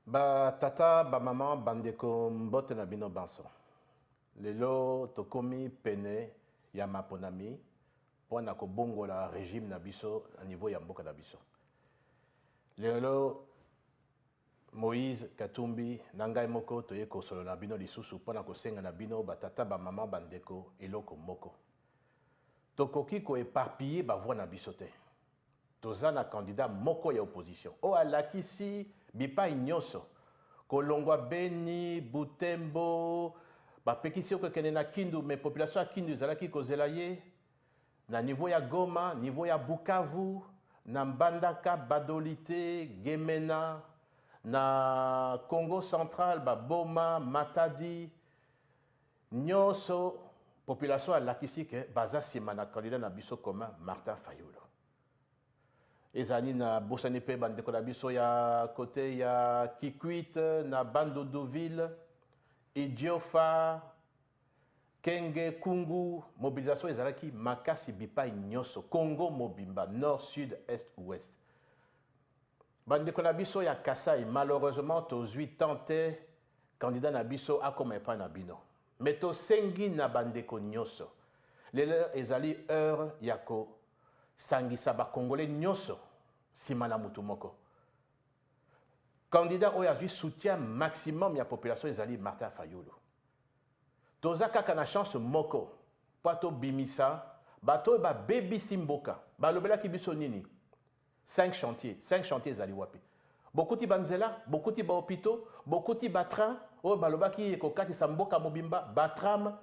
Batata, bamama, bandeko, mbote na bino banso. Lelo tokomi pene ya maponami mpo na kobongola regime na biso na niveau ya mboka na biso. Lelo Moïse Katumbi na ngai moko toye kosolola na bino lisusu mpo na kosenga na bino batata, bamama, bandeko eloko moko. Tokoki koeparpiller bavoi na biso te. Toza na candidat moko ya opposition oyo alakisi bipayi nionso, kolongua Beni, Butembo, bapekisi ye kokende na Kindu mais population ya Kindu ezalaki kozela ye, na niveau ya Goma, niveau ya Bukavu, na Mbandaka, Badolite, Gemena, na Kongo central, ba Boma, Matadi. Nionso population alakisi que baza sima na candidat na biso commun Martin Fayulu. Ezala nini na bosani pe ba ndeko na biso ya cote ya Kikwit na Bandundu ville, Idiofa, Kenge, Kungu, mobilisation ezalaki makasi bipai nionso Congo mobimba nord, sud, est, ouest. Ba ndeko na biso ya Kasai malheureusement tozui temps te Candidat na biso akoma epai na bino. Mais tosengi na ba ndeko nyoso, lelo ezali heure ya ko sangisa ba congolais nyoso sima na mutu moko. Candidat oyo azui soutien maximum ya population ezali Martin Fayulu. Toza kaka na chance moko po to bimisa bato oyo ba bebisi mboka. Ba lobelaki biso nini? Cinq chantiers, cinq chantiers ezali wapi? Bokuti ba nzela, bokuti ba hopitaux, bokuti ba trains oyo balobaki ekokatisa mboka mobimba, ba trams,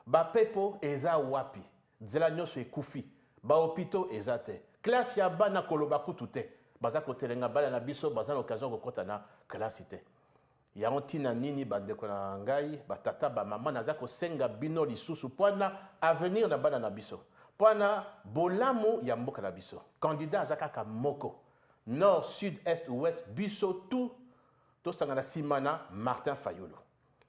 ba pepo eza wapi? Nzela nionso ekufi, ba hopitaux eza te, classe ya bana koloba kutu te, baza kotelenga bana na biso baza na occasion ya kokota na kelasi te. Yango ntina nini bandeko na ngai, ba tata, ba mama, naza kosenga bino lisusu mpo na avenir na bana na biso, mpo na bolamu ya mboka na biso. Candidat aza kaka moko, nord, sud, est, ouest, biso tout tosangana sima na Martin Fayulu.